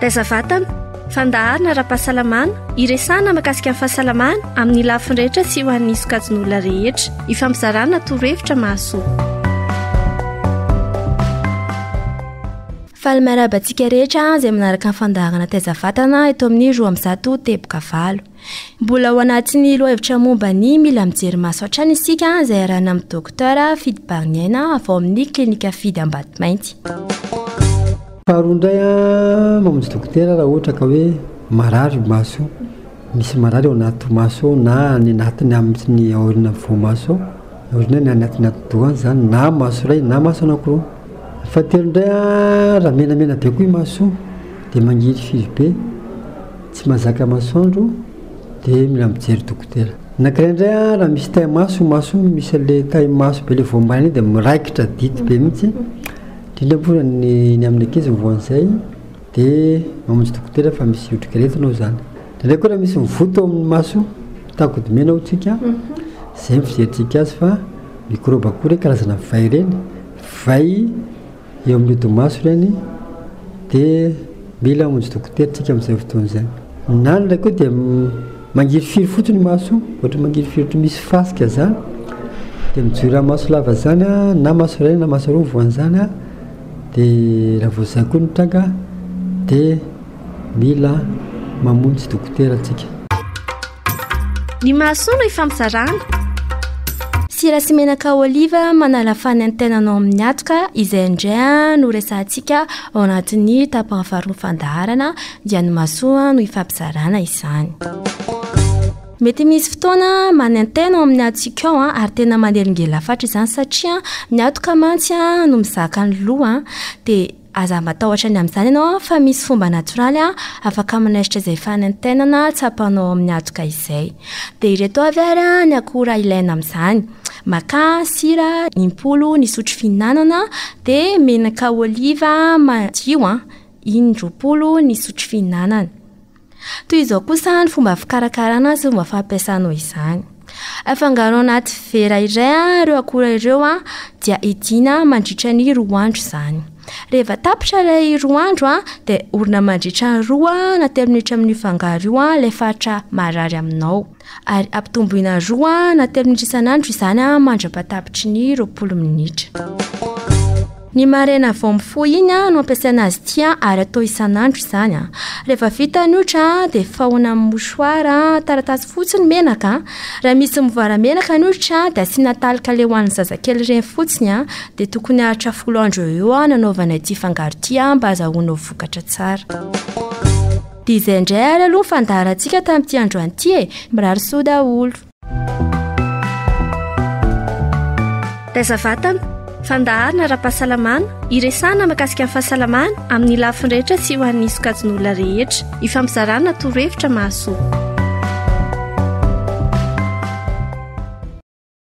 Taiza vatana, fandaharana ara-pahasalamana, iresahana makasika ny fahasalamana amin'ny lafiny rehetra sy ho an'ny sokajin'olona rehetra. Ifampizarana torohevitra mahasoa. Faly miarahaba antsika rehetra izay manaraka ny fandaharana Taiza vatana eto amin'ny roa amby zato teboka valo. Mbola ao anatin'ny lohahevitra momba ny mila mijery maso hatrany isika izay arahana amin'ny dokotera Fidy Bariniaina avy ao amin'ny klinika Fidy Ambatomainty. Faharoa indray a mamonjy dokotera raha ohatra ka hoe marary io maso io, misy marary ao anaty maso ao na any anatiny amin'ny aoriana amin'ny voamaso ao, aoriana ny any atiny atidoha any izany na maso iray na maso anankiroa. Ny fahatelo indray a raha menamena be koa io maso io dia mangiry firy be. Tsy mazaka masoandro de mila mijery dokotera. Nankiray ndray a raha misy tay maso io maso io misy anle tay maso be le voambaina iny de miraikitra dity be mihitsy indrindra moa zany ny ny amin'ny ankizy mivoaha an'izay de mamonjy dokotera fa misy otrikaretina ao zany ndraindray koa raha misy mivoto ao amin'ny maso takodo mena ao tsika zay ny fizerintsika azy fa mikrôba koa reny karazana vay reny vay Eo amin'ny odi-maso ireny dia mila hamonjy dokotera isika amin'izay fotoana izay. Ny any ilay koa dia mangirifiry fotsiny maso, ohatra mangirifiry ohatry misy fasika izany dia mijoira maso lava izany na maso iray na maso roa ny voan'izany dia raha vao izay koa no tranga dia mila mamonjy dokotera isika. Ny mahasoa no ifampizarana. Sira sy menaka oliva manala fany ny tenanao amin'ny atoka izay indray no resahantsika ao anatin'ny tapany faharoa fandaharana dia ny masoa no ifampizarana izany. Mety misy fotoana manentena ao amin'ny atsika ao ary tena manelingelafatra izany satria ny atoka mantsy no mizaka ny loha dia Aza matahotra ny amin'izany ianao fa misy fomba natoraly afaka manaisotra izay fanaintainana tsapanao ao amin'ny hatoka izay. Dia ireto avy ary ny akora ilaina amin'izany, makà, sira impolo ny sotro fihinanana, dia menaka oliva madio in-droapolo ny sotro fihinanana. Toy izao kosa ny fomba fikarakarana sy fomba fampiasanao izany. Afangaro anaty vera iray ireo akora ireo dia idiana mandritra ny roa andro izany. Rehefa tapitra ilay roa andro dia orina mandritra ny roa na telo minitra amin'io fangaro io ilay faritra marary aminao. ary ampitomboina roa na telo minitra isan'andro izany mandra-patapitry ny roapolo minitra. Ny maraina vao mifoha iny no ampiasaina azy ity ary atao isan'andro izany. Rehefa vita ny otra dia fahona amin'ny mouchoir taratasy fotsy ny menaka. Raha misy mivoara menaka ny otra dia asiana talika le ho an'ny zazakely ireny fotsiny dia tokony haharitra folo andro eo eo nanaovana ity fangaro ity mba azahoana ho vokatra tsara. Divay indray ary aloha ny fandaharantsika tamin'ity androany ity e! Mirary soa daholo. Taiza vatana, fandaharana ara-pahasalamana, iresahana makasika ny fahasalamana amin'ny lafiny rehetra sy ho an'ny sokajin'olona rehetra. Ifampizarana torohevitra mahasoa.